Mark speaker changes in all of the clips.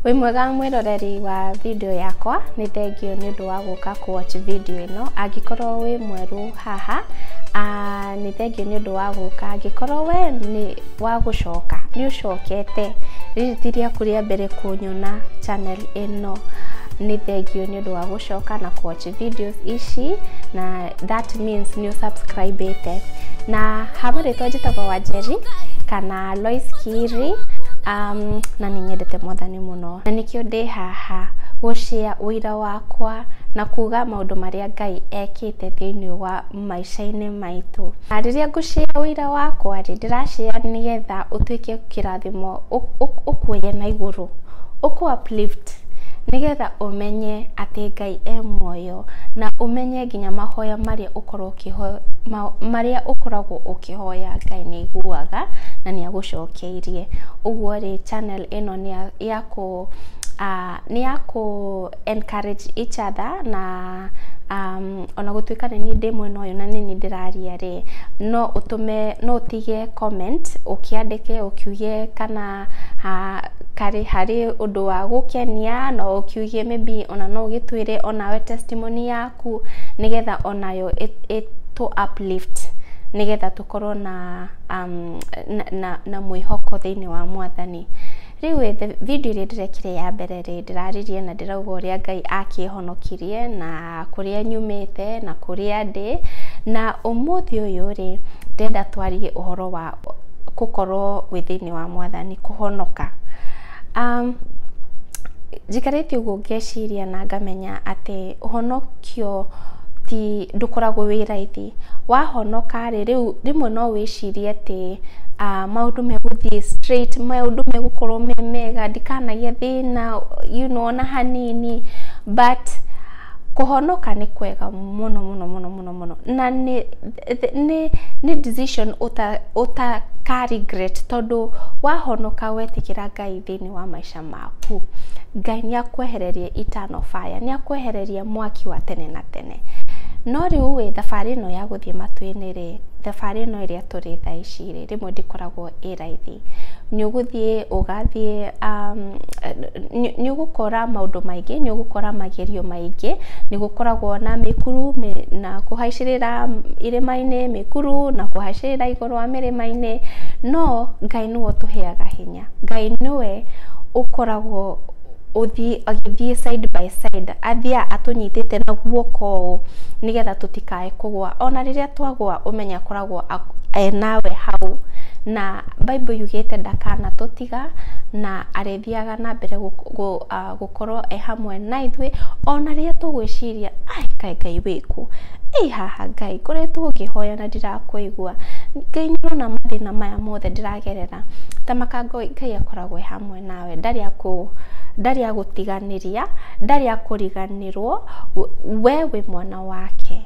Speaker 1: Wĩ mwega mwĩroreri wa video yakwa, nĩ thengiũ nĩ ũndũ wa gũka kũ watch video ĩno. Angĩkorwo wĩ mwerũ haha, nĩ thengiũ nĩ ũndũ wa gũka. Angĩkorwo we nĩ wa gũcoka, nĩ ũcokete, rĩrĩ ti rĩaku rĩa mbere kũnyona channel ĩno, nĩ thengiũ nĩ ũndũ wa gũcoka na kũ watch. videos ici na that means nĩ ũsubscribĩte na hama rĩtwa njĩtagwo wanjeri kana lois kiri um, na nĩ nyendete mwathani mũno na nĩkĩo ndĩ haha gũcĩa ũira wakwa na kuga maũndũ marĩa ngai ekĩte thĩinĩ wa maica-inĩ maitũ. Na rĩrĩa ngũ share ũira wakwa rĩ, ndĩra share nĩgetha ũtuĩke kĩrathimo, ũkuoye na igũrũ, ũkũ uplift nĩgetha ũmenye atĩ Ngai e muoyo, na ũmenye nginya mahoya marĩa ũkoragwo ũkĩhoya, marĩa ũkoragwo ũkĩhoya Ngai nĩ aiguaga na nĩ agũcokeirie. Ũguo rĩ channel ĩno nĩ ya kũ, nĩ ya kũ encourage each other na... Ona gũtuĩka nĩ niĩ ndĩ mwena ũyũ na nĩ niĩ ndĩraria rĩ, no ũtũme, no ũtige comment ũkĩandĩke ũkiuge kana karĩ harĩ ũndũ wa gũkenia, na ũkiuge may be ona no ũgĩtwĩre onawe testimony yaku, nĩgetha onayo ĩtũ uplift nĩgetha tũkorwo na na mwĩhoko thĩiniĩ wa Mwathani. Rĩu ĩ, the video ĩrĩa ndĩrekire ya mbere rĩ, ndĩraririe na ndĩrauga ũrĩa Ngai akĩhonokirie, na kũrĩa nyumĩte, na kũrĩa ndĩ, na ũmũthĩ ũyũ rĩ, ndĩrenda twarie ũhoro wa gũkorwo wĩ thĩiniĩ wa Mwathani, kũhonoka. Njikarĩte ũguo ngeciria na ngamenya atĩ ũhonokio ti, ndũkoragwo wĩ raithi. wahonoka rĩ, rĩu rĩmwe no wĩcirie atĩ maũndũ megũthiĩ straight, maũndũ megũkorwo me mega, ndikanagĩe thĩna you know ona hanini, but kũhonoka nĩ kwega mũno mũno mũno mũno mũno, na nĩ nĩ nĩ decision ũta ũtaka regret tondũ wahonoka wetĩkĩra Ngai thĩiniĩ wa maica. mehia maku. Ngai nĩ akwehereria eternal of fire, nĩ akwehereria mwaki wa tene na tene. No rĩu ĩ, thabarĩ ĩno ya gũthiĩ matuinĩ rĩ, thabarĩ ĩno ĩrĩa tũrĩ thaa ici rĩ, rĩmwe ndĩkoragwo ĩ raithi. Nĩ ũgũthiĩ ũgathiĩ, nĩ ũgũkora maũndũ maingĩ, nĩ ũgũkora magerio maingĩ, nĩ gũkoragwo na mĩkuru, na kũhaicĩrĩra irĩma-inĩ, mĩkuru na kũhacĩrĩra igũrũ. rwa mĩrĩma-inĩ, no Ngai nĩwe ũtũheaga hinya. Ngai nĩwe ũkoragwo agĩthiĩ side by side, athiaga atũnyitĩte na guoko ũũ nĩgetha tũtikae kũgwa. Ona rĩrĩa twagwa ũmenye akoragwo e nawe hau, na Bible yugĩte ndakanatũtiga na arĩ. athiaga na mbere gũkorwo e hamwe na ithuĩ ona rĩrĩa tũgwĩciria ai kaĩ Ngai wĩkũ, ĩ haha Ngai ngoretwo ngĩhoya na ndirakũigua, Ngai nĩũrona mathĩna maya mothe ndĩragerera, ta makanga ũyũ Ngai akoragwo e hamwe nawe ndarĩ akũ ndarĩ agũtiganĩria, ndarĩ akũriganĩrwo, we wĩ mwana wake,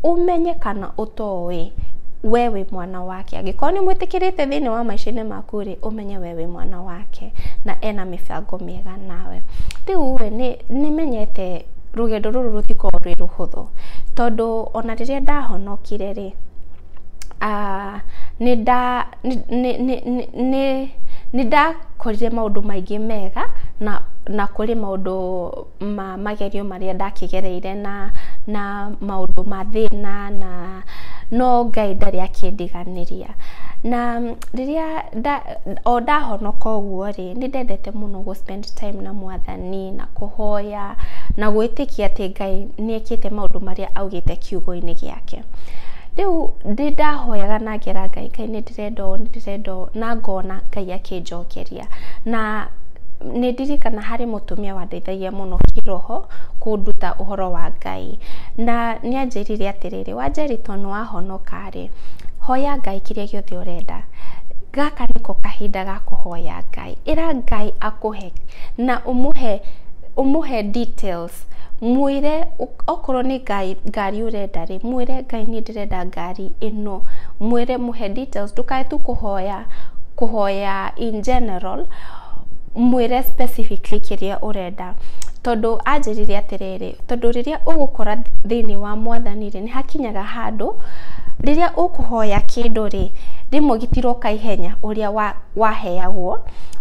Speaker 1: ũmenye kana ũtoĩ we wĩ mwana wake, angĩkorwo nĩmwĩtĩkĩrĩte thĩinĩ wa maica-inĩ maku rĩ. ũmenye we wĩ mwana wake na ena mĩbango mĩega nawe. Rĩu rĩ nĩ menyete rũgendo rũrũ rũtikoragwo rwĩ rũhũthũ tondũ ona rĩrĩa ndahonokire rĩ nĩ ndakorire maũndũ maingĩ mega na kũrĩ maũndũ... ma magerio marĩa ndakĩgereire na na maũndũ ma thĩna na no Ngai ndarĩ akĩndiganĩria. Na rĩrĩa nda o ndahonoka ũguo rĩ, nĩ ndendete mũno gũ spend time na mwathani na kũhoya na gwĩtĩkia atĩ Ngai nĩ ekĩte maũndũ marĩa augĩte kiugo-inĩ gĩake. Rĩu nĩ ndahoyaga na ngera Ngai, Ngai nĩ ndĩra... ndĩrenda ũũ, ndĩrenda ũũ, na ngona Ngai akĩnjokeria. Na nĩ ndirikanaga harĩ mũtumia wandeithagia mũno kĩĩroho kũnduta ũhoro wa Ngai. Na nĩ aanjĩrire atĩrĩrĩ, wa Njerica nĩ wahonoka rĩ, hoya Ngai kĩrĩa gĩothe ũrenda. Gaka nĩko kahinda ga kũhoya Ngai. Ĩra Ngai akũhe na ũmũhe details. mwĩre okorwo nĩ ngari, ngari ũrenda rĩ, mwĩre Ngai niĩ ndĩrenda ngari ĩno, mwĩre mũhe details ndũkae tu kũhoya, kũhoya in general mwĩre specifically kĩrĩa ũrenda, tondũ anjĩrire atĩrĩrĩ, tondũ rĩrĩa ũgũkora thĩiniĩ wa mwathani rĩ, nĩhakinyaga handũ, rĩrĩa ũkũhoya kĩndũ rĩ, rĩmwe gĩtiroka ihenya ũrĩa wa waheagwo,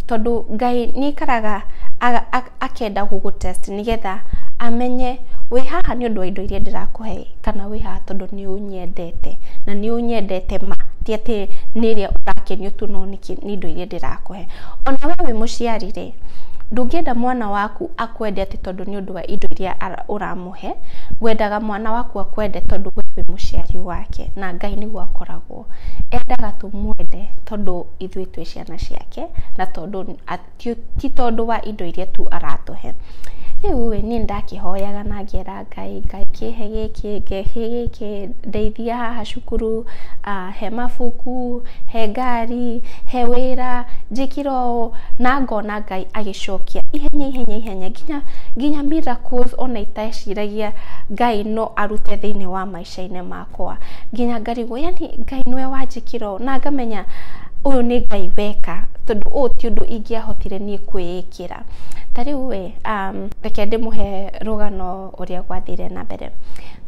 Speaker 1: tondũ Ngai nĩaikaraga a a. akenda gũgũ test nĩgetha amenye wĩ haha nĩ ũndũ wa indo iria ndĩrakũhe kana wĩ haha tondũ nĩ ũnyendete na nĩ ũnyendete ma ti atĩ nĩ ĩrĩa ũrakenio tu no nĩ indo iria ndĩrakũhe. Ona we wĩ mũciari rĩ, ndũngĩenda mwana waku akwende atĩ tondũ nĩ ũndũ wa indo iria ũramũhe, wendaga mwana waku akwende tondũ we wĩ mũciari wake na Ngai nĩguo akoragwo endaga tũmwende tondũ ithuĩ twĩ ciana ciake na tondũ... ti tondũ wa indo iria tu aratũhe. Rĩu ĩ, niĩ nĩ ndakĩhoyaga na ngera Ngai, Ngai kĩhe gĩkĩ, kĩhe gĩkĩ, ndeithia haha cukuru, he mabuku, he ngari, he wĩra, njĩkĩre ũũ, na ngona Ngai agĩcokia ihenya ihenya ihenya nginya miracles ona iteciragia Ngai no arute thĩiniĩ wa maica. maica-inĩ makwa nginya ngarigwo yaani Ngai nĩwe wanjĩkĩra ũũ na ngamenya ũyũ nĩ Ngai weka tondũ ũũ ti ũndũ ingĩahotire niĩ kwĩĩkĩra. Ta rĩu ĩ, reke ndĩmũhe rũgano ũrĩa gwathire na mbere.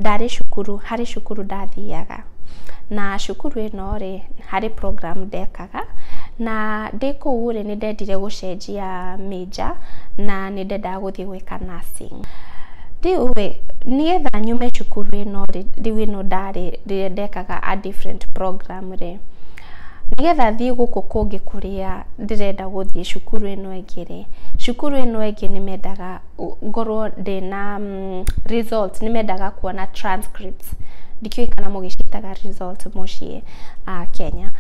Speaker 1: Ndarĩ cukuru, harĩ cukuru ndathiaga na cukuru ĩno rĩ, harĩ program ndekaga. wega, na ndĩ kũu rĩ, nĩ ndendire gũcenjia major na nĩ ndendaga gũthiĩ gwĩka nursing. Rĩu rĩ, nĩgetha nyume cukuru ĩno rĩ, rĩu ĩno ndarĩ rĩrĩa ndekaga a different program rĩ, nĩgetha thiĩ gũkũ kũngĩ kũrĩa ndĩrenda gũthiĩ cukuru ĩno ĩngĩ rĩ, cukuru ĩno ĩngĩ nĩ mendaga... ngorwo ndĩna results, nĩ mendaga kuona transcripts, ndikĩũĩ kana mũgĩciĩtaga results mũciĩ Kenya.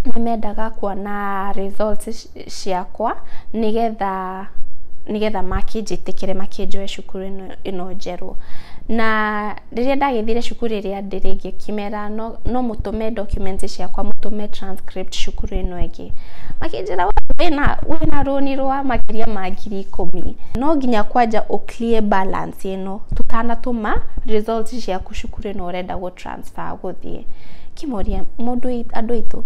Speaker 1: Nĩ mendaga kuona results ciakwa nĩgetha, nĩgetha makĩnjĩtĩkĩre makĩnjoe cukuru ĩno njerũ. Na rĩrĩa ndagĩthire cukuru ĩrĩa... hĩndĩ ĩrĩa ĩngĩ kĩmera no, no mũtũme documents ciakwa mũtũme transcript cukuru ĩno ĩngĩ makĩnjĩra wĩna wĩna rũni rwa makĩria ma ngiri ikũmi no nginya kwanja ũ clear balance ĩno tũtanatũma results ciaku cukuru ĩno ũrenda gũ transfer gũthiĩ kĩmoria mũndũ andũ aitũ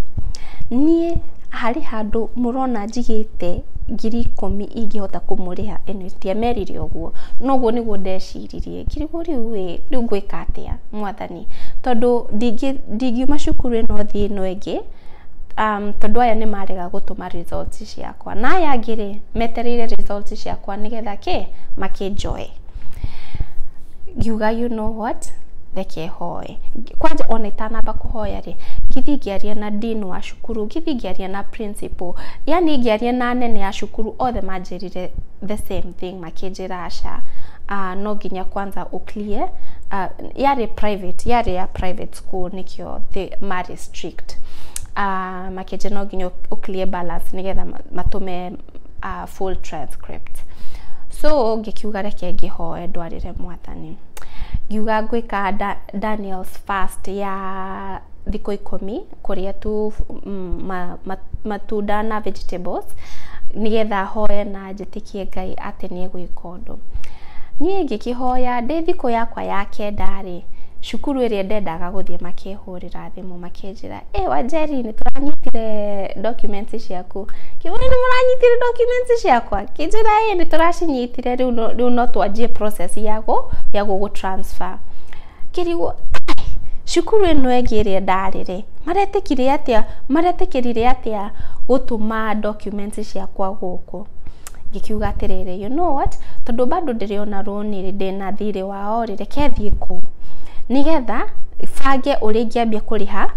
Speaker 1: niĩ harĩ handũ mũrona njigĩte ngiri ikũmi ingĩhota kũmũrĩha ĩno ĩtĩa merire ũguo noguo nĩguo ndeciririe. Kĩrigũ rĩu ĩ, rĩu ngwĩka atĩa mwathani, tondũ ndingiuma cukuru ĩno thiĩ ĩno ĩngĩ, tondũ aya nĩ marega gũtũma result ciakwa, na aya angĩ rĩ, metereire result ciakwa nĩgetha kĩ, makĩnjoe. Ngiuga you know what, reke hoe. Kwanja ona itanamba kũhoya rĩ, ngĩthiĩ ngĩarie na Dean wa cukuru, ngĩthiĩ ngĩarie na Principal, yaani ngĩarie na anene a cukuru othe manjĩrire the same thing. akĩnjĩra aca no nginya kwanza ũ clear yarĩ private yarĩ ya private school nĩkĩo marĩ strict makĩnjĩra no nginya ũ clear balance nĩgetha matũme full transcript so ngĩkiuga reke ngĩhoe ndwarĩre mwathani ngiuga ngwĩka Daniel's fast ya thikũ ikũmi kũrĩa tu matunda na vegetables nĩgetha hoe na... njĩtĩkie Ngai atĩ nĩ egwĩka ũndũ. Niĩ ngĩkĩhoya ndĩ thikũ yakwa ya kenda rĩ, cukuru ĩrĩa ndendaga gũthiĩ makĩhũrĩra thimũ makĩnjĩra, ĩ Wanjeri nĩ tũranyitire documents ciaku. Ngiuga nĩ mũranyitire documents ciakwa? Akĩnjĩra ĩ nĩ tũracinyitire rĩu no twanjie process ya gũgũ transfer. kĩrigũ cukuru ĩno ĩngĩ ĩrĩa ndarĩ rĩ, maretĩkire atĩa, maretĩkĩrire atĩa gũtũma documents ciakwa gũkũ? Ngĩkiuga atĩrĩrĩ you know what tondũ bado ndĩrĩ ona rũni rĩ, ndĩna thirĩ wao rĩ, reke thiĩ kũu, nĩgetha bange ũrĩa ingĩambia kũrĩha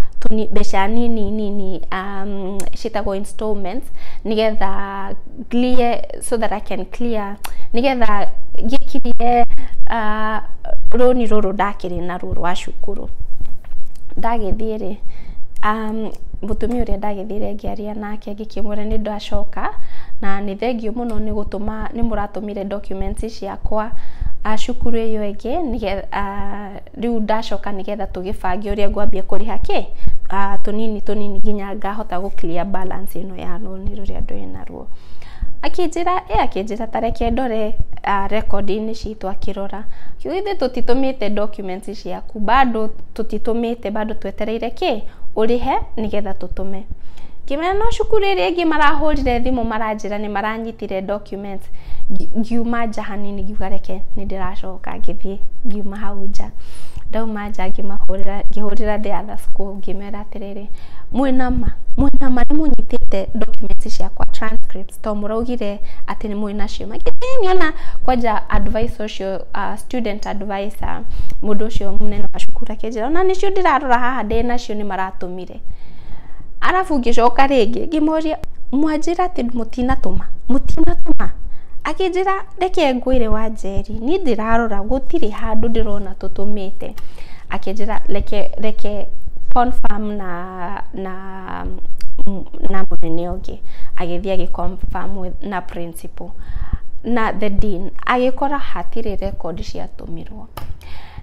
Speaker 1: mbeca nini nini ciĩtagwo installments nĩgetha... clear so that I can clear nigetha gĩkirie uh, rũni rũrũ ndakĩrĩ naruo rwa cukuru ndagĩthiĩ rĩ um, mũtumia ũrĩa ndagĩthire ngĩaria nake ngĩkĩmwĩra nĩ ndacoka na nĩ thengiũ mũno nĩ gũtũma nĩ mũratũmire documents ciakwa uh, cukuru ĩyo ĩngĩ nĩgetha uh, rĩu ndacoka nĩgetha tũgĩbange ũrĩa ngwambia kũrĩha kĩ ah, tũnini tũnini nginya ngahota gũ clear balance ĩno ya rũni rũrĩa ndwĩ naruo akĩnjĩra ĩ akĩnjĩra ta reke ndore ah, rekondi-inĩ citũ akĩrora kiugo ithuĩ tũtitũmĩte documents ciaku bado tũtitũmĩte bado twetereire kĩ ũrĩhe nĩgetha tũtũme ngĩmera no cukuru ĩrĩa ĩngĩ marahũrire thimũ maranjĩra nĩ maranyitire document comments ngiuma nja hanini ngiuga reke nĩ ndĩracoka ngĩthiĩ ngiuma hau nja ndauma nja ngĩmahũrĩra ngĩhũrĩra the other school ngĩmera atĩrĩrĩ mwĩna ma mwĩna ma nĩ mũnyitĩte documents ciakwa transcripts to mũraugire atĩ nĩ mwĩna cio magĩtĩ niona kwanja advice ũcio uh, student advisor mũndũ ũcio mũnene wa cukuru akĩnjĩra ona nĩcio ndĩrarora haha ndĩ nacio nĩ maratũmire ndĩmũrute. Arabu ngĩcoka rĩngĩ ngĩmũria mwanjĩra atĩ mũtinatũma, mũtinatũma? Akĩnjĩra reke ngwĩre wanjeri niĩ ndĩrarora gũtirĩ handũ ndĩrona tũtũmĩte. Akĩnjĩra reke reke confirm na na na mũnene ũngĩ. Agĩthiĩ agĩ confirm na principal na the dean agĩkora hatirĩ rekondi ciatũmirwo.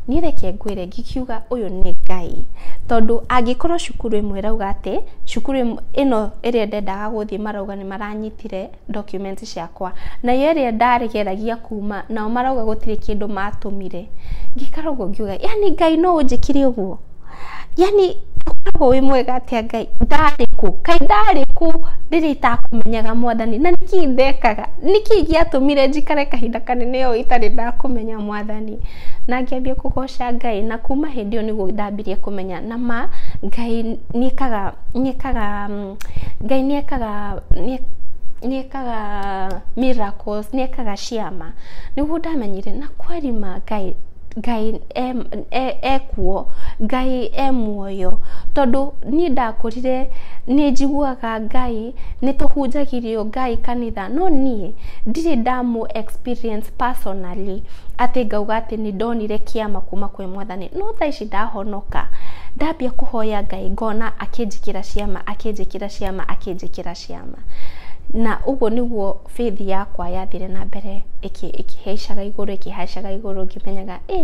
Speaker 1: Niĩ reke ngwĩre ngiuga ũyũ nĩ Ngai, tondũ angĩkorwo cukuru ĩmwe ĩrauga atĩ, cukuru ĩno ĩrĩa ndendaga gũthiĩ marauga nĩ maranyitire document ciakwa, nayo ĩrĩa ndageragia kuma nao marauga gũtirĩ kĩndũ matũmire, ngĩikara ũguo ngiuga yaani Ngai no ũnjĩkĩre ũguo? yaani ũkoragwo wĩ mwega atĩa Ngai, ndarĩ kũ, kaĩ ndarĩ kũ rĩrĩa itakũmenyaga Mwathani, na nĩkĩ ndekaga, nĩkĩ gĩatũmire njikare kahinda kanene ũũ itarĩ ndakũmenya Mwathani, na ngĩambia kũgoca Ngai, na kuuma hĩndĩ ĩyo nĩguo ndambirie kũmenya na ma Ngai nĩ ekaga, nĩ ekaga, Ngai nĩ ekaga, nĩ ekaga miracles, nĩ ekaga ciama, nĩguo ndamenyire na kweli ma Ngai, Ngai ekuo, Ngai e muoyo, tondũ niĩ ndakũrire nĩ njiguaga Ngai, nĩ tũhunjagĩrio Ngai kanitha no niĩ ndirĩ ndamũ experience personally atĩ ngauga atĩ nĩ ndonire kĩama kuma kwĩ mwathani, no thaa ici ndahonoka, ndambia kũhoya Ngai ngona akĩnjĩkĩra ciama, akĩnjĩkĩra ciama, akĩnjĩkĩra ciama. ciama. Na ũguo nĩguo faith yakwa yathire na mbere ĩkĩhaicaga igũrũ ĩkĩhaicaga igũrũ ngĩmenyaga ĩ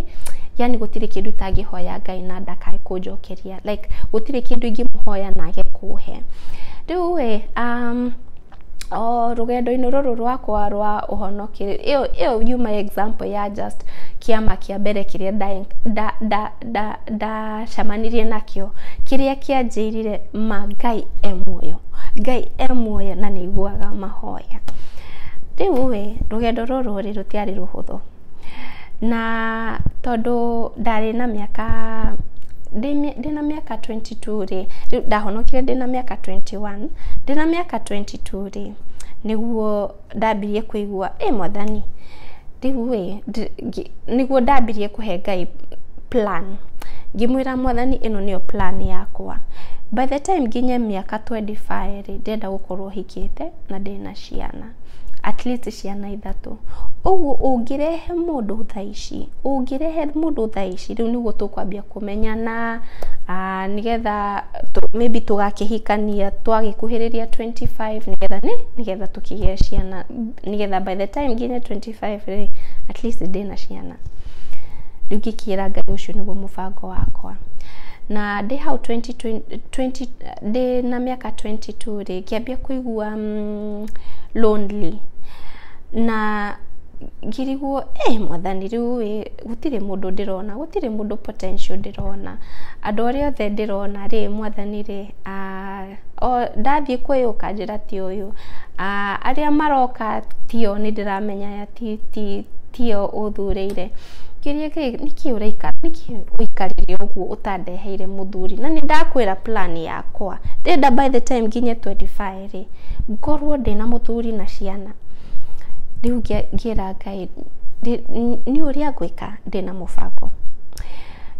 Speaker 1: yani gũtirĩ kĩndũ itangĩhoya Ngai na ndakae kũnjokeria like gũtirĩ kĩndũ ingĩmũhoya na age kũhe. Rĩu ĩ um, o rũgendo-inĩ rũrũ rwakwa rwa ũhonoki ĩyo yuma example ya just kĩama kĩa mbere kĩrĩa ndacemanirie nakĩo kĩrĩa kĩanjĩrire ma Ngai e muoyo, Ngai e muoyo na nĩ aiguaga mahoya. Rĩu rĩ rũgendo rũrũ rĩ rũtiarĩ rũhũthũ na tondũ ndarĩ na mĩaka, ndĩna mĩaka twenty two rĩ, ndahonokire ndĩna mĩaka twenty one, ndĩna mĩaka twenty two rĩ nĩguo... ndambirie kũigua ĩ mwathani rĩu ĩ nĩguo ndambirie kũhe Ngai plan ngĩmwĩra mwathani ĩno nĩyo plan yakwa by the time nginye mĩaka twenty five rĩ ndĩrenda gũkorwo hikĩte na ndĩna ciana atleast ciana ithatũ, ũguo ũngĩrehe mũndũ thaa ici ũngĩrehe mũndũ thaa ici rĩu nĩguo tũkwambia. kũmenyana ah, nĩgetha tũ- maybe tũgakĩhikania twagĩkuhĩrĩria 25 nĩgetha nĩ nĩgetha tũkĩgĩa ciana nĩgetha by the time nginye 25 rĩ at least ndĩ na ciana rĩu ngĩkĩra ngai ũcio nĩguo mũbango wakwa na ndĩ hau 20, 20, ndĩ na mĩaka 22 rĩ ngĩambia kũigua mm, lonely na ngĩrigwo eh mwathani rĩu ĩ gũtirĩ mũndũ ndĩrona Gũtirĩ mũndũ potential ndĩrona. Andũ arĩa othe ndĩrona rĩ, mwathani rĩ, ndathiĩ kwĩ ũyũ ũkanjĩra ti ũyũ. Arĩa maroka ti o nĩ ndĩramenya aya ti o ũthurĩire. Ngĩũria atĩrĩ, nĩkĩ ũraikara, nĩkĩ ũikarire ũguo ũtandeheire mũthuri? Na nĩ ndakwĩra plan yakwa. Ndĩrenda by the time nginye twenty five rĩ, ngorwo ndĩna mũthuri na ciana. Rĩu ngĩra Ngai. Niĩ ũrĩa ngwĩka ndĩna mũbango,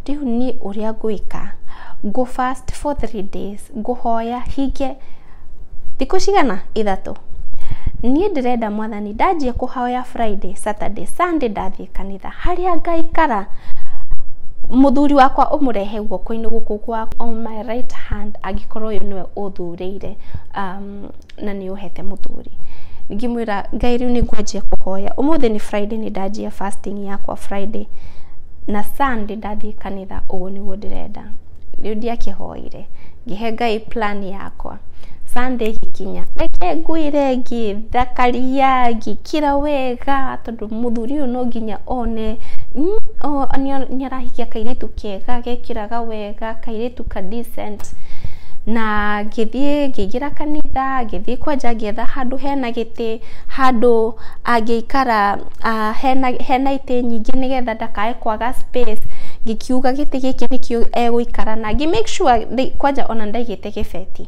Speaker 1: rĩu niĩ ũrĩa ngwĩka ngũ fast for three days ngũhoya hingie thikũ cigana? Ithatũ. Niĩ ndĩrenda mwathani ndanjia kũhoya Friday, Saturday, Sunday ndathiĩ kanitha harĩa ngaikara mũthuri wakwa ũmũrehe guoko-inĩ gũkũ gwa on my right hand angĩkorwo ũyũ nĩwe ũthurĩire. na nĩ ũhete mũthuri ngĩmwĩra ngai rĩu nĩ ngwanjia kũhoya ũmũthĩ nĩ friday nĩ ndanjia fasting yakwa friday na sunday ndathiĩ kanitha ũguo nĩguo ndĩrenda rĩu ndiakĩhoire ngĩhe ngai plan yakwa sunday gĩkinya reke ngwĩre ngĩthakaria ngĩkĩra wega mũthuri ũyũ no nginya one nĩ arahikia kairĩtu kega gekĩraga wega, kairĩtu ka decent na ngĩthiĩ ngĩingĩra kanitha, ngĩthiĩ kwanja ngĩetha handũ hena gĩtĩ, handũ angĩikara hena itĩ nyingĩ nĩgetha ndakae kwaga space ngĩkiuga gĩtĩ gĩkĩ nĩkĩo egũikara na ngĩ make sure kwanja ona ndaigĩte... ndĩrĩte gĩbeti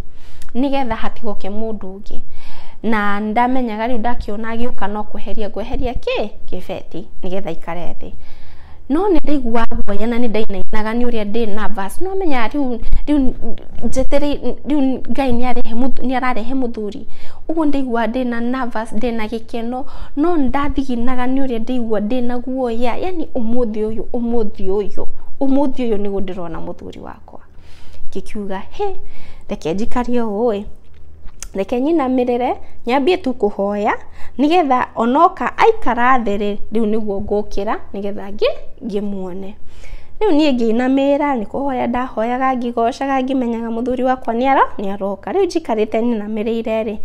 Speaker 1: nĩgetha hatigoke mũndũ ũngĩ na ndamenyaga rĩu ndakĩona agĩũka no kweheria ngweheria kĩ gĩbeti nĩgetha ikare thĩ no nĩ ndaiguaga guoya na nĩ ndainainaga nĩ ũrĩa ndĩ na bas no menya rĩu rĩu njeterei rĩu ngai nĩ arehe mũthu- nĩ ararehe mũthuri ũguo ndaiguaga ndĩ na nervous ndĩ na gĩkeno no ndathiginaga nĩ ũrĩa ndaigua ndĩ na guoya yani ũmũthĩ ũyũ ũmũthĩ ũyũ ũmũthĩ ũyũ nĩguo ndĩrona mũthuri wakwa yakwa ngĩkiuga hĩ reke njikare ũũ ĩ, reke nyinamĩrĩre nyambie tu kũhoya nĩgetha ona oka aikara thĩ rĩ rĩu nĩguo ngũkĩra nĩgetha ngĩmwone. Rĩu niĩ ngĩinamĩrĩra nĩ kũhoya ndahoyaga ngĩgocaga ngĩmenyaga mũthuri wakwa nĩ aroka. Rĩu njikarĩte nyinamĩrĩire rĩ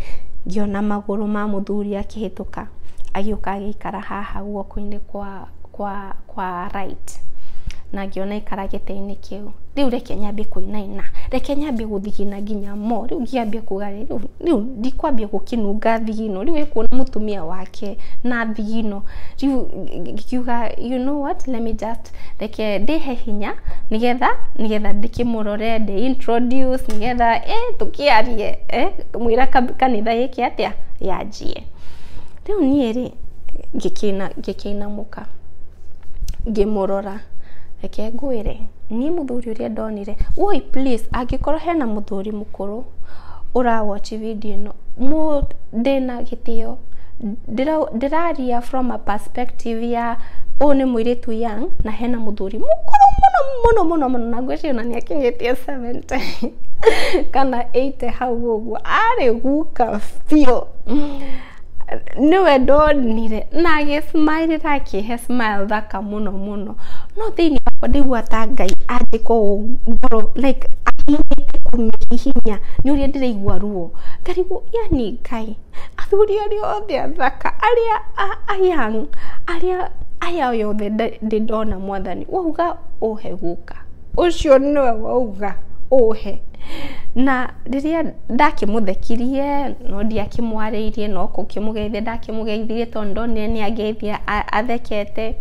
Speaker 1: ngĩona magũrũ ma mũthuri akĩhĩtũka agĩũka agĩikara haha guoko-inĩ kwa... kwa, kwa right na ngĩona aikara gĩtĩ-inĩ kĩu. Rĩu reke nyambie kũinaina, reke nyambie gũthigina nginya mo, rĩu ngĩambia kuga rĩ, rĩu, rĩu ndikwambia gũkĩnunga thigino, rĩu ĩkuona mũtumia wake na thigino, rĩu ngiuga you know what, let me just, reke ndĩhe hinya, nĩgetha, nĩgetha ndĩkĩmũrore, ndĩ introduce, nĩgetha ĩ tũkĩarie, ĩ, kamũira kanitha gĩkĩ atĩa, yanjie. Rĩu niĩ-rĩ, ngĩkĩina ngĩkĩinamũka ngĩmũrora, reke ngwĩre, niĩ mũthuri ũrĩa ndonire, woi please angĩkorwo hena mũthuri mũkũrũ ũra watch video ĩno, ndĩna gĩtĩo, ndĩraria from a perspective ya ũyũ nĩ mũirĩtu young na hena mũthuri mũkũrũ mũno mũno mũno mũno na ngwĩciria ona nĩakinyĩtie seventy kana eighty hau ũguo, arĩ guka biũ. nĩwe ndonire na agĩ smile ra akĩhe smile thaka mũno mũno no thĩinĩ wakwa ndaigua ta Ngai anjĩka ũũ ngoro like ahinyĩte kũmĩhihinya nĩ ũrĩa ndĩraigua ruo ngarigwo yani Ngai athuri arĩa othe athaka arĩa a young arĩa aya othe ndĩ ndona mwathani wauga ũhe gũka. ũcio nĩwe wauga ũhe. Na rĩrĩa ndakĩmũthekirie no ndiakĩmwarĩirie no gũkĩmũgeithia ndakĩmũgeithirie tondũ nĩndonire nĩ angeithia athekete.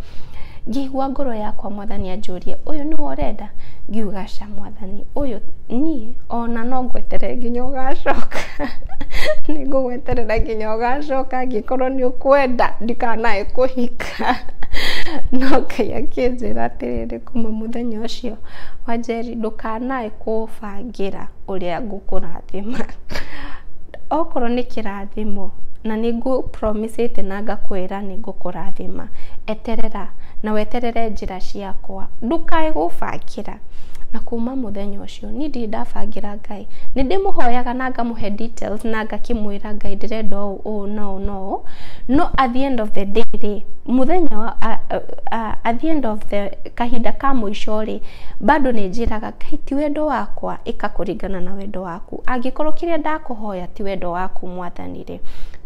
Speaker 1: Ngĩigua ngoro yakwa mwathani anjũria ũyũ nĩwe ũrenda? Ngiuga aca mwathani ũyũ niĩ ona no ngweterere nginya ũgacoka. Nĩ ngũgweterera nginya ũgacoka angĩkorwo nĩ ũkwenda ndikanae kũhika. No Ngai akĩnjĩra atĩrĩrĩ kuma mũthenya ũcio wanjeri ndũkanae kũbangĩra ũrĩa ngũkũrathima. Okorwo nĩ kĩrathimo na nĩ ngũ promise ĩte na ngakwĩra nĩ ngũkũrathima, eterera na weterere njĩra ciakwa. Ndũkae gũbangĩra. Na kuma mũthenya ũcio. niĩ ndirĩ ndabangĩra Ngai. Nĩ ndĩmũhoyaga na ngamũhe details na ngakĩmwĩra Ngai ndĩrenda ũũ ũũ na ũũ na ũũ, no at the end of the day rĩ, mũthenya wa at the end of the kahinda ka mũico rĩ, bado nĩ njĩraga Ngai ti wendo wakwa, ĩka kũringana na wendo waku. Angĩkorwo kĩrĩa ndakũhoya ti wendo waku Mwathani rĩ. yake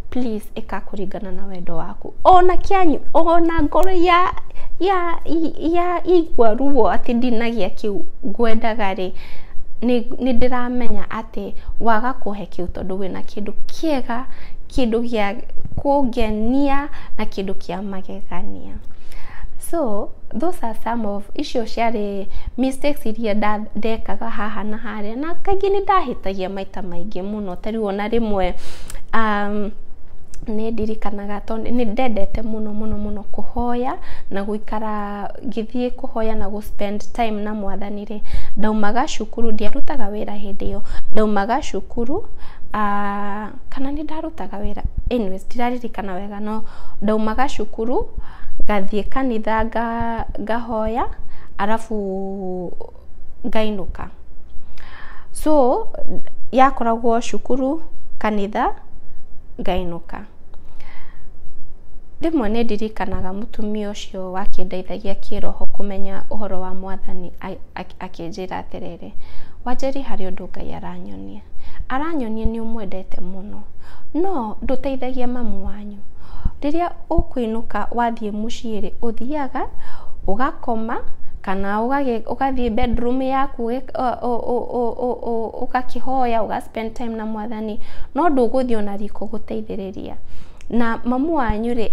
Speaker 1: please ĩka kũringana na wendo waku ona kĩanyu ona ngoro ya ya ya igua ruo atĩ ndinagia kĩu ngwendaga rĩ nĩ nĩ ndĩramenya atĩ waga kũhe kĩu tondũ wĩna kĩndũ kĩega kĩndũ gĩa kũngenia na kĩndũ kĩa magegania so those are some of icio ciarĩ mistakes iria nda- ndekaga haha na harĩa na kaingĩ nĩ ndahĩtagia maita maingĩ mũno mũno ta rĩu ona rĩmwe nĩ ndirikanaga tondũ nĩ ndendete mũno mũno mũno kũhoya na gũikara ngĩthiĩ kũhoya na gũ spend time na mwathani rĩ, ndaumaga cukuru, ndiarutaga wĩra hĩndĩ ĩyo, ndaumaga cukuru kana nĩ ndarutaga wĩra anyways ndiraririkana wega no ndaumaga cukuru ngathiĩ kanitha ngahoya arabu... ngainũka. So yakoragwo cukuru, kanitha, ngainũka. Rĩmwe nĩ ndirikanaga mũtumia ũcio wakĩndeithagia kĩĩroho kũmenya ũhoro wa Mwathani akĩnjĩra atĩrĩrĩ, Wanjeri harĩ ũndũ Ngai aranyonia. Aranyonia nĩ ũmwendete mũno, no ndũteithagia mamu wanyu. Rĩrĩa ũkũinũka wathiĩ mũciĩ rĩ, ũthiaga ũgakoma kana ũgathiĩ bedroom yaku ũgakĩhoya ũga spend time na Mwathani, no ndũgũthiĩ ona riko gũteithĩrĩria. Na mamu wanyu rĩ,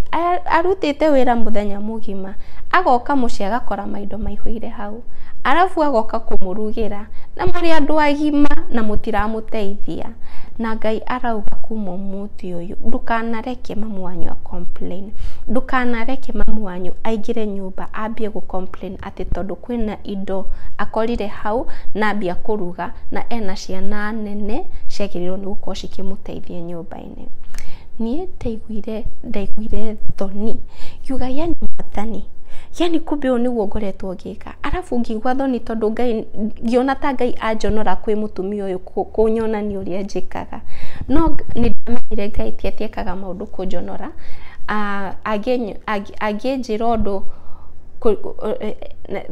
Speaker 1: arutĩte wĩra mũthenya mũgima, agoka mũciĩ agakora maindo maihũire hau, arabu agoka kũmũrugĩra na mũrĩ andũ agima na mũtiramũteithia, na Ngai arauga kuma ũmũthĩ. mũtĩ ũyũ ndũkanareke mamu wanyu a complain ndũkanareke mamu wanyu aingĩre nyũmba ambie gũ complain atĩ tondũ kwĩna indo akorire hau na ambia kũruga na ena ciana nene ciagĩrĩirwo nĩ gũkorwo cikĩmũteithia nyũmba-inĩ. Niĩ ndaiguire ndaiguire thoni ngiuga yaani mwathani yaani kumbe ũũ nĩguo ngoretwo ngĩka? arabu ngĩigua thoni tondũ ngai ngĩona ta ngai anjonora kwĩ mũtumia ũyũ kũnyonania ũrĩa njĩkaga no nĩ ndamenyire ngai ti atĩ ekaga maũndũ kũnjonora angĩnjĩra ũndũ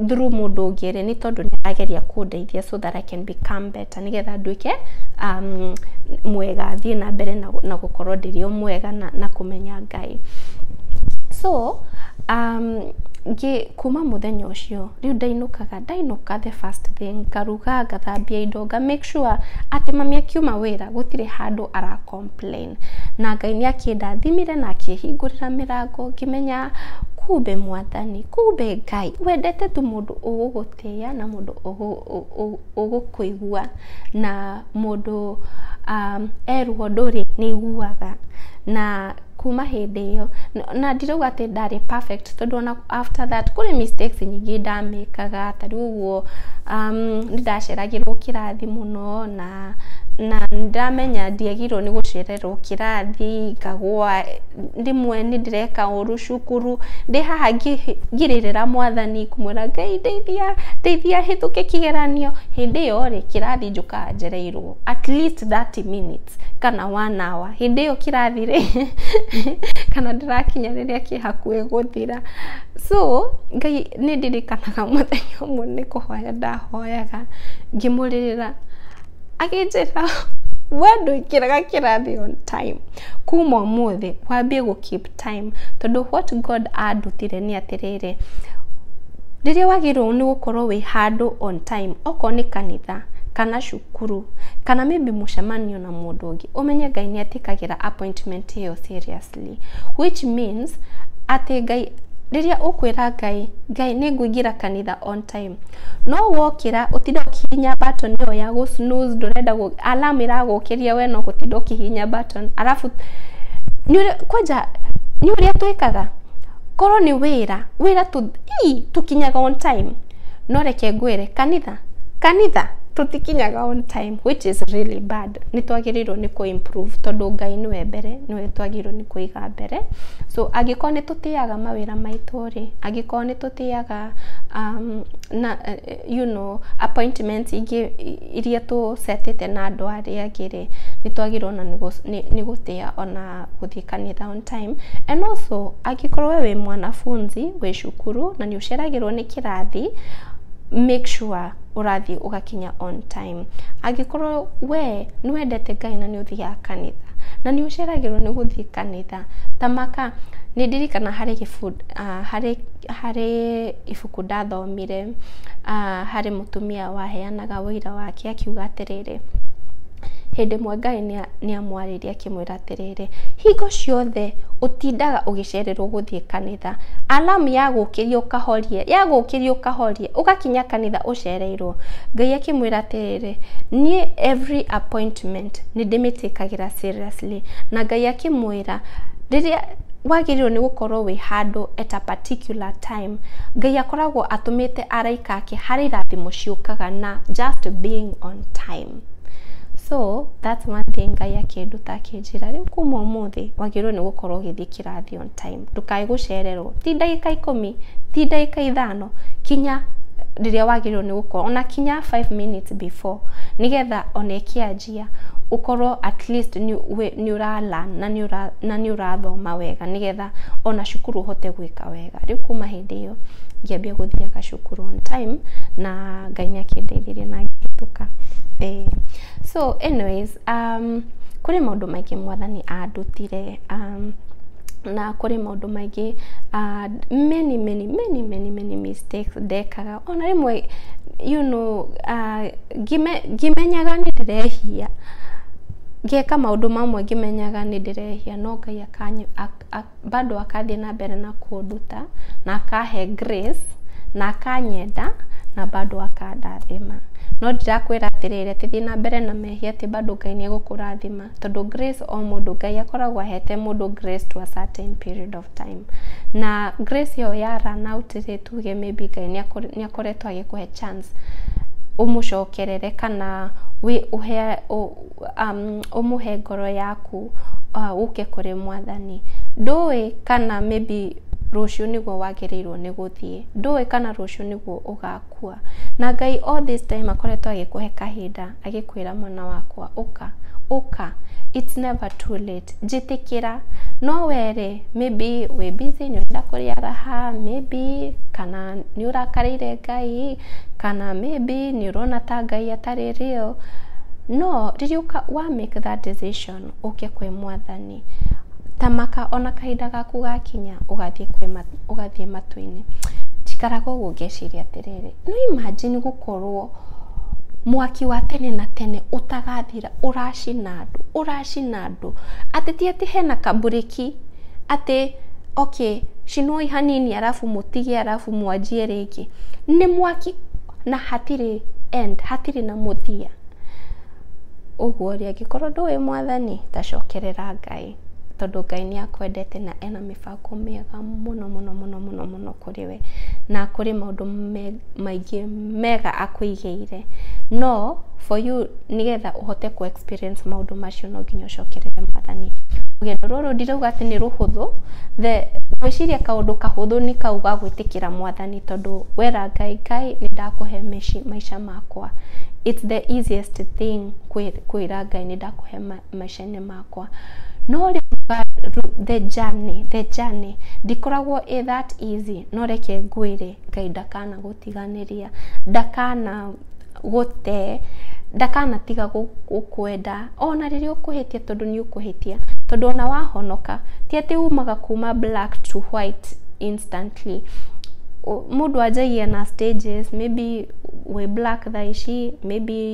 Speaker 1: through mũndũ ũngĩ nĩ tondũ nĩ arageria kũndeithia so that I can become better. ta nĩgetha nduĩke um, mwega thiĩ na mbere na, na gũkorwo ndĩrĩ o mwega na, na kũmenya ngai so um, ngĩ kuma mũthenya ũcio rĩu ndainũkaga ndainũka the first thing ngaruga ngathambia indo nga make sure atĩ mami akiuma wĩra gũtirĩ handũ ara complain na ngai nĩ akĩndathimire na akĩhingũrĩra mĩrango ngĩmenya kumbe mwathani kumbe ngai wendete tu mũndũ ũgũgũtĩa na mũndũ ũgũkũigua na mũndũ erwo ũndũ rĩ, nĩ aiguaga. Na kuma hĩndĩ ĩyo, na ndirauga atĩ ndarĩ perfect tondũ ona after that kũrĩ mistakes nyingĩ ndamĩkaga, ta rĩu ũguo nĩ ndaceragĩrwo kĩrathi mũno na nĩ ndamenya ndiagĩrĩirwo nĩ gũcere... ngarererwo kĩrathi, ngagũa, rĩmwe nĩ ndĩreka ũru cukuru, ndĩ haha ngĩrĩrĩra mwathani ngĩmwĩra Ngai ndeithia, ndeithia hĩtũke kĩgeranio, hĩndĩ ĩyo rĩ, kĩrathi njũkaga njereirwo at least thirty minutes kana one hour, hĩndĩ ĩyo kĩrathi rĩ, kana ndĩrakinya rĩrĩa kĩ hakuhĩ gũthira. So Ngai nĩ ndirikanaga mũthenya ũmwe nĩ kũhoya ndahoyaga ngĩmũrĩrĩra. Akĩnjĩra we ndũingĩraga kĩrathi on time, kuma ũmũthĩ wambie gũ keep time tondũ what God andutire nĩ atĩrĩrĩ, rĩrĩa wagĩrĩirwo nĩ gũkorwo wĩ handũ on time, okorwo nĩ kanitha, kana cukuru, kana maybe mũcemanio na mũndũ ũngĩ, ũmenye Ngai nĩ etĩkagĩra appointment ĩyo seriously, which means atĩ Ngai, rĩrĩa ũkwĩra Ngai, Ngai nĩ ngũingĩra kanitha on time, No wokĩra ũtinde ũkĩhihinya button ĩyo ya gũ snooze ndũrenda gũ alarm ĩragũkĩria we no gũtinda ũkĩhihinya button arabu nĩũrĩ kwanja nĩũĩ ũrĩa twĩkaga korwo nĩ wĩra wĩra tũ ii tũkinyaga on time no reke ngwĩre kanitha kanitha tũtikinyaga on time which is really bad nĩtwagĩrĩirwo nĩ kũ improve tondũ Ngai nĩwe mbere nĩwe twagĩrĩirwo nĩ kũiga mbere so angĩkorwo nĩtũtĩaga mawĩra maitũ. rĩ angĩkorwo nĩ tũtĩaga na you know appointments ingĩ iria tũ set ĩte na andũ arĩa angĩ rĩ, nĩ twagĩrĩirwo ona nĩ gũtĩa ona gũthiĩ kanitha on time. And also angĩkorwo we wĩ mwanafunzi wĩ cukuru na nĩ ũceragĩrwo nĩ kĩrathi make sure ũrathiĩ ũgakinya on time. Angĩkorwo we nĩ wendete Ngai na nĩ ũthiaga kanitha, na nĩ ũceragĩrwo nĩ gũthiĩ kanitha, ta maka, nĩ ndirikana harĩ gĩbindi, harĩ, harĩ ibuku ndathomire, harĩ mũtumia waheanaga ũira wake akiuga atĩrĩrĩ, hĩndĩ ĩmwe Ngai nĩ amwarĩria... akĩmwĩra atĩrĩrĩ, hingo ciothe ũtindaga ũgĩcererwo gũthiĩ kanitha, alamu ya gũkĩria ũkahorie, ya gũkĩria ũkahorie, ũgakinya kanitha ũcereirwo. Ngai akĩmwĩra atĩrĩrĩ, niĩ every appointment nĩ ndĩmĩtĩkagĩra seriously. Na Ngai akĩmwĩra, rĩrĩa wagĩrĩirwo nĩ gũkorwo wĩ handũ at a particular time. Ngai akoragwo atũmĩte araika ake harĩ irathimo ciũkaga na just being on time. so that's one thing ngai akĩnduta akĩnjĩra rĩu kuma ũmũthĩ wagĩrĩirwo nĩ gũkorwo ũgĩthiĩ kĩrathi on time ndũkae gũcererwo ti ndagĩka ikũmi ti ndagĩka ithano kinya rĩrĩa wagĩrĩirwo nĩ gũkorwo ona kinya 5 minutes before nĩgetha ona ĩkĩanjia ũkorwo at least nĩ ũra learn na nĩ ũrathoma wega nĩgetha wega ona cukuru ũhote gwĩka wega rĩu kuma hĩndĩ ĩyo ngĩambia gũthiaga cukuru on time na ngai nĩ akĩndeithirie na ngĩhĩtũka eh. so anyways um, kũrĩ maũndũ maingĩ mwathani andutire um, na kũrĩ maũndũ maingĩ uh, many many many many many mistakes ndekaga ona rĩmwe you know uh, ngime, ngimenyaga nĩ ndĩrehia ngeka maũndũ mamwe ngĩmenyaga nĩ ndĩrehia no ngai kanyu bado akathiĩ na mbere na kũnduta na akahe grace na akanyenda na bado akandathima no ndirakwĩra atĩrĩrĩ atĩ thiĩ na mbere na mehia atĩ bado Ngai nĩ egũkũrathima tondũ grace o mũndũ Ngai akoragwo ahete mũndũ grace to a certain period of time na grace ĩyo ya run out rĩ tuge may be Ngai nĩ akoretwo agĩkũhe chance ũmũcokerere kana ũhe ũmũhe ngoro yaku ũke kũrĩ mwathani. Ndũĩ kana maybe rũciũ nĩguo wagĩrĩirwo nĩ gũthiĩ. Ndũĩ kana rũciũ nĩguo ũgakua. Na Ngai all this time akoretwo agĩkũhe kahinda agĩkwĩra mwana wakwa ũka, ũka. It's never too late. Njĩtĩkĩra, no wee-rĩ, maybe wĩ busy nĩ ũrenda kũrĩa raha, maybe kana nĩ ũrakarĩire Ngai, kana maybe nĩ ũrona ta Ngai atarĩ real, no rĩrĩa ũka wa make that decision ũke kwĩ Mwathani, ta maka ona kahinda gaku gakinya ũgathiĩ kwĩ ma ũgathiĩ matu-inĩ. Njikaraga ũguo ngeciria atĩrĩrĩ, nĩ imagine gũkorwo mwaki wa tene na tene ũtagathira. ũracina andũ ũracina andũ atĩ ti atĩ hena kamburĩki atĩ okay cinwoi hanini arabu mũtige arabu mwanjie rĩngĩ nĩ mwaki na hatirĩ end hatirĩ na mũthia ũguo rĩ angĩkorwo ndũĩ mwathani tacokerera ngai tondũ ngai nĩ akwendete na ena mĩbango mĩega mũno mũno mũno mũno mũno kũrĩ we. we na kũrĩ maũndũ maingĩ mega akũigĩire. No for you nĩgetha ũhote kũ experience maũndũ macio no nginya ũcokerere mwathani. Rũgendo rũrũ ndirauga atĩ nĩ rũhũthũ, ngwĩciria kaũndũ kahũthũ nĩ kau ga gwĩtĩkĩra mwathani tondũ wera Ngai, Ngai nĩ ndakũhe maica makwa. It's the easiest thing kwĩra Ngai nĩ ndakũhe maica makwa. maica-inĩ makwa. No rĩu the journey, the journey ndikoragwo ĩ that easy no reke ngwĩre Ngai ndakanagũtiganĩria, ndakanagũte, ndakanatiga gũkwenda ona rĩrĩa ũkũhĩtia tondũ nĩ ũkũhĩtia. Tondũ ona wahonoka ti atĩ umaga kuma black to white instantly. Mũndũ anjagia na stages, maybe wĩ black thaa ici, maybe...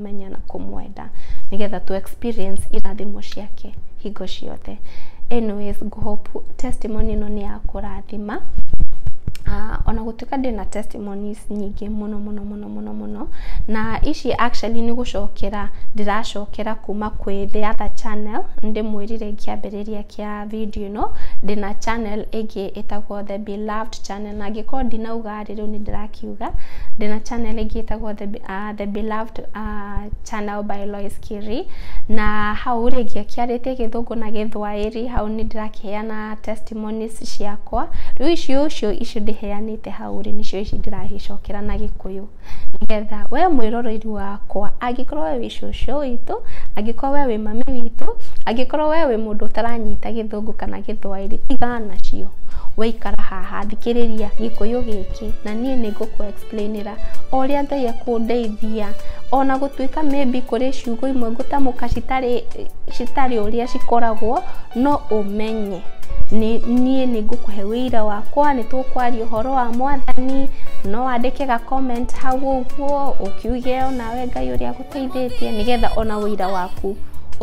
Speaker 1: kũmũmenya na kũmwenda nĩgetha tũ experience irathimo ciake hingo ciothe anyways ngũhope testimony ĩno nĩ ya kũrathima Ah, ona gũtuĩka ndĩ na testimonies nyingĩ mũno mũno mũno mũno mũno na ici actually nĩ gũcokera ndĩracokera kuma kwĩ the other channel ndĩmwĩrire kĩambĩrĩria kĩa video ĩno ndĩ na channel ĩngĩ ĩtagwo the beloved channel na angĩkorwo ndinauga Harĩ rĩu nĩ ndĩrakiuga ndĩ na channel ĩngĩ ĩtagwo The Beloved Channel by Lois Kĩrĩ. Na hau rĩ, ngĩakĩarĩtie Gĩthũngũ na Gĩthwaĩri, hau nĩ ndĩrakĩheana testimonies ciakwa. Rĩu icio ũcio icio ndĩheanĩte hau rĩ, nĩcio ici ndĩragĩcokera na Gĩkũyũ. Nĩgetha we mwĩroreirwo wakwa, angĩkorwo we wĩ cũcũ witũ, angĩkorwo we wĩ mami witũ, angĩkorwo we wĩ mũndũ ũtaranyita gĩthũngũ. gĩthũngũ kana gĩthwaĩri tigana nacio we ikara haha thikĩrĩria gĩkũyũ gĩkĩ na niĩ nĩ ngũkũ explainĩra o ũrĩa ngai akũndeithia ona gũtuĩka maybe kũrĩ ciugo imwe ngũtamũka citarĩ citarĩ ũrĩa cikoragwo no ũmenye nĩ niĩ nĩ ngũkũhe wĩira wakwa nĩ tũkwaria ũhoro wa mwathani no wandĩke ga comment hau ũguo ũkiuge onawe ngai ũrĩa agũ- Teithĩtie nĩgetha ona ũira waku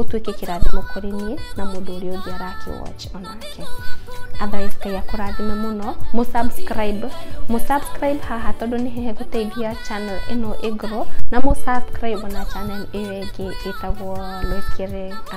Speaker 1: ũtuĩke kĩrathimo kũrĩ niĩ na mũndũ ũrĩa ũngĩ arakĩwatch onake otherwise ngai akũrathime mũno mũsubscribe mũsubscribe haha tondũ nĩ hehe gũteithia channel ĩno ĩngorwo na mũsubscribe na channel ĩyo ĩngĩ ĩtagwo Lois Kere